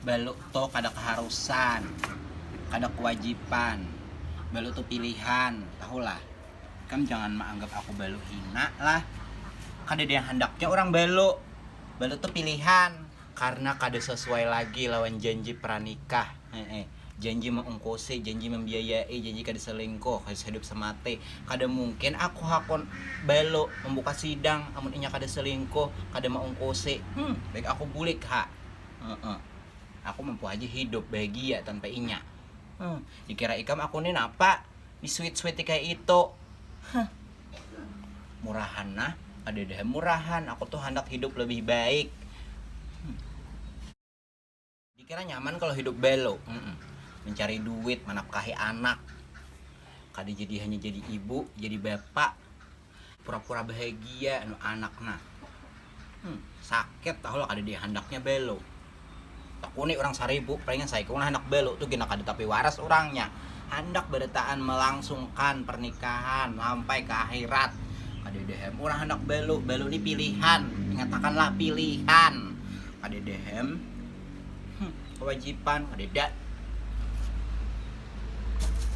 Balu to kada kaharusan, kada kawajipan, balu tu pilihan, tahulah. Ikam jangan maanggap aku balu hina lah. Kadada yang handaknya urang balu. Balu tu pilihan. Karna kada sasuai lagi lawan janji pranikah. Heeh. Janji maungkusi, janji mambiayai, janji kada salingkuh, kada sahidup samati. Kada mungkin aku hakun Balu mambuka sidang amun inya kada salingkuh, kada maungkusi. Hum, baik aku bulik ha. Heeh. Aku mampu haja hidup bahagia tanpa inya. Huh, dikira ikam aku ni napa? Disuit-suiti kaya itu. Huh. Murahan nah, kadada ha murahan, aku tu handak hidup labih baik. Huh. Dikira nyaman kalo hidup belo, mencari duit, manapkahi anak, kada jadi hanya jadi ibu, jadi bapa, pura-pura bahagia anu anak nah. Sakit tahulah kada dihandaknya belo. Takuni urang Saribu, palingan saikung nah handak belo, tu gina kada tapi waras urangnya. Handak barataan malangsungkan pernikahan lampai ka akhirat. Kadada hem urang handak belo, belo ni pilihan, ingatakanlah pilihan. Kadada hem. Kewajiban kadeda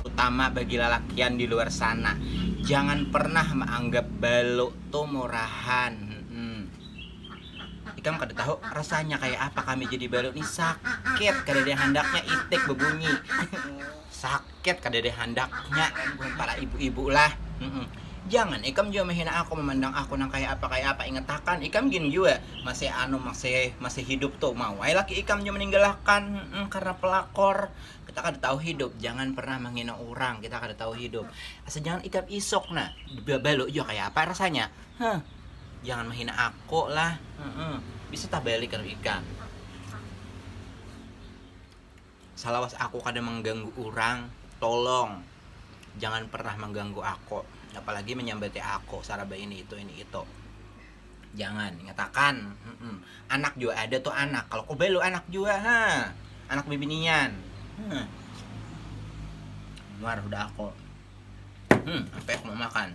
utama bagi lalakian di luar sana. Jangan pernah maanggap balu tu murahan. Hmm. Ikam kada tahu rasanya kaya apa kami jadi balu ni sakit kadada yang handaknya itik bebunyi. Sak. Ket kadada handaknya mun para ibu-ibu lah. Mm-mm. Jangan ikam jua menghina aku memandang aku nang kaya apa kaya apa ingatakan ikam gin jua masih anu masih masih hidup tu mau ai laki ikam jua meninggalakan mm, karena pelakor kita kada tahu hidup jangan pernah menghina orang kita kada tahu hidup asal jangan ikam isok nah balu jua kaya apa rasanya huh jangan menghina aku lah mm-mm. bisa tabalik kalau ikam Salawas ako kada mangganggu urang, tolong jangan pernah mangganggu ako, apalagi manyambati ako saraba ini itu ini itu. Jangan, ingatakan, hmm, anak jua ada tu anak, kalau ko balu anak jua, ha, anak bibinian. Hmm. Muar hudah ako. Hmm, apa yang mau makan?